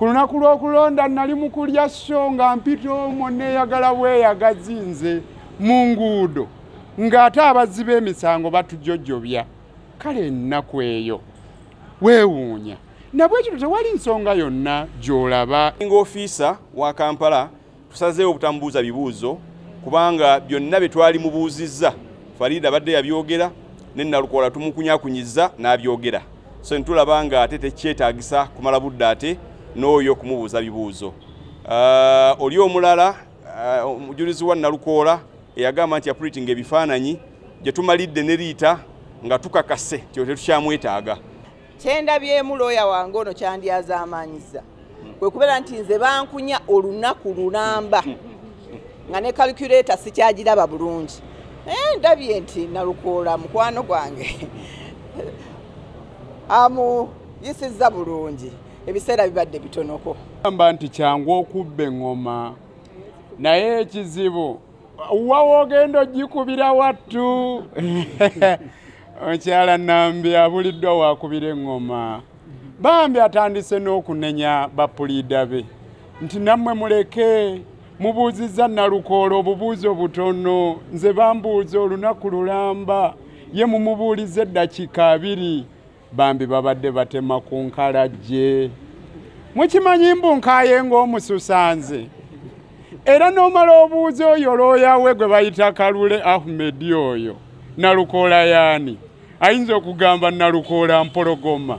Ku lunaku lw'okulonda nnali mu kulya sso nga mpita omwo nneeyagala bweyagazi nze mu nguudo ng'ate abazzi b'emisango batujojobya kale ennaku eyo weewuunya nabwekityo tewali nsonga yonna gy'olaba nga ofiisa wa kampala Tusazeewo obutamubuuza bibuuzo kubanga byonna bye twali mubuuzizza Fariida abadde yabyogera ne Nalukoola tumukunyakunyizza n'abyogera, so ntulaba nga ate tekyetaagisa kumala budde ate n'oyo okumubuuza bibuuzo. Uh, oli omulala uh, omujulizi wa Nalukoola eyagamba nti yapulitinga ebifaananyi gye tumalidde ne Riita nga tukakase nti tetukyamwetaaga. kyendabyemu looya wange ono kyandyazaamaanyiza kwe kubeera nti nze bankunya olunaku lulamba nga ne calculator sikyagiraba bulungi naye ndabye nti nalukoola mukwano gwange amuyisizza bulungi ebiseera bibadde bitonoko amba nti kyangu okubba eŋŋoma naye ekizibu wa wogenda ogikubira wattu omukyala nambi abuliddwa wakubira eŋŋoma bambi atandise n'okunenya bapuliida be nti nammwe muleke mubuuzizza nalukoola obubuuzo butono nze bambuuza olunaku lulamba ye mumubuuliza eddakika abiri bambi babadde batema ku nkalajje mukimanyi mbu nkaye ng'omususanze era n'omala obuuza oyo looya we gwe bayita kalule ahumedi oyo nalukoola yaani ayinza okugamba nalukoola mpologoma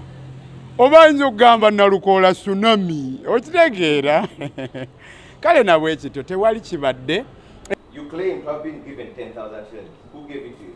oba ayinza okugamba nalukoola sunami okitegeera kale nabwe ekityo tewali kibadde You claim to have been given 10,000 shillings. Who gave it to you?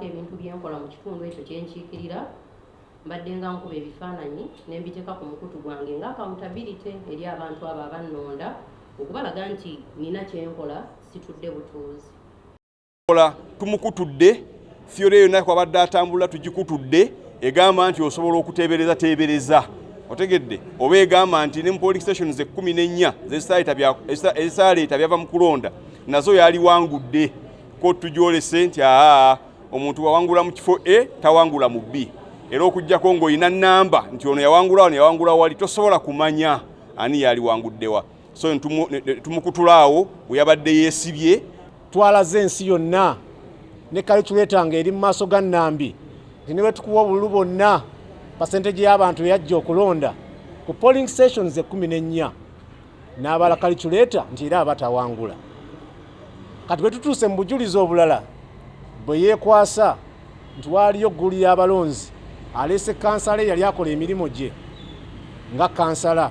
ebintu byenkola mu kitundu ekyo kyenkiikirira mbadde nga nkuba ebifaananyi ne mbiteeka ku mukutu gwange nga akamutabirite eri abantu abo abannonda okubalaga nti nina kyenkola situdde butuuzi kola tumukutudde fyore yonna kwabadde atambula tugikutudde egamba nti osobola okuteebereza teebereza otegedde oba egamba nti ne mu polling stations ekkumi n'ennya ezisaaleeta byava mu kulonda nazo yaliwangudde kottu gyolese nti aa omuntu wawangula mu kifo a tawangula mu b era okujjako ng'olina namba nti ono yawangula wano yawangula wali tosobola kumanya ani yaliwanguddewa so tumukutulaawo weyabadde yeesibye twalaze ensi yonna ne kaliculeeta nga eri mu maaso ga nnambi nti ne bwetukuwa obululu bonna pasenteje y'abantu eyajja okulonda ku polling stations ekkumi n'ennya n'abala kaliculeeta nti era aba tawangula kati bwe tutuuse mu bujulizi obulala bwe yeekwasa nti waaliyo ggulu y'abalonzi aleese kansala eyali akola emirimu gye nga kansala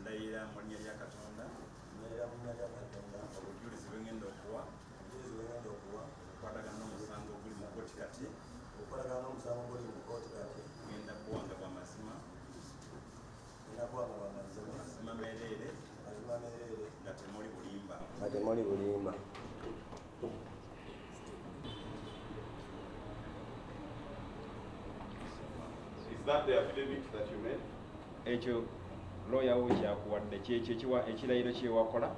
ndayira mu linnya lya katonda ndayira mu linnya lya katonda obujulizi bwe ngenda okuwa obujulizi bwe ngenda okuwa okukwatagana n'omusango oguli mu kkooti kati okukwatagana n'omusango oguli mu kkooti kati ngenda kuwanga bwa mazima temuli bulimba ekyo looya wo kyakuwadde kyekyo ekiwa ekirayiro kyewakola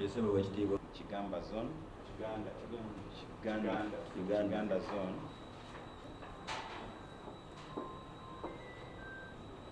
esebo wekitiibwa kigamba zone kiganda kiganda kiganda zone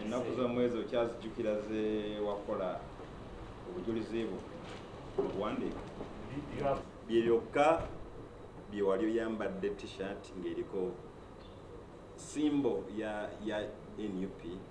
ennaku z'omwezi okyazijjukira ze wakola obujulizi bwo obuwandiika bye byokka bye wali oyambadde t-shirt ng'eriko simbo ya ya nup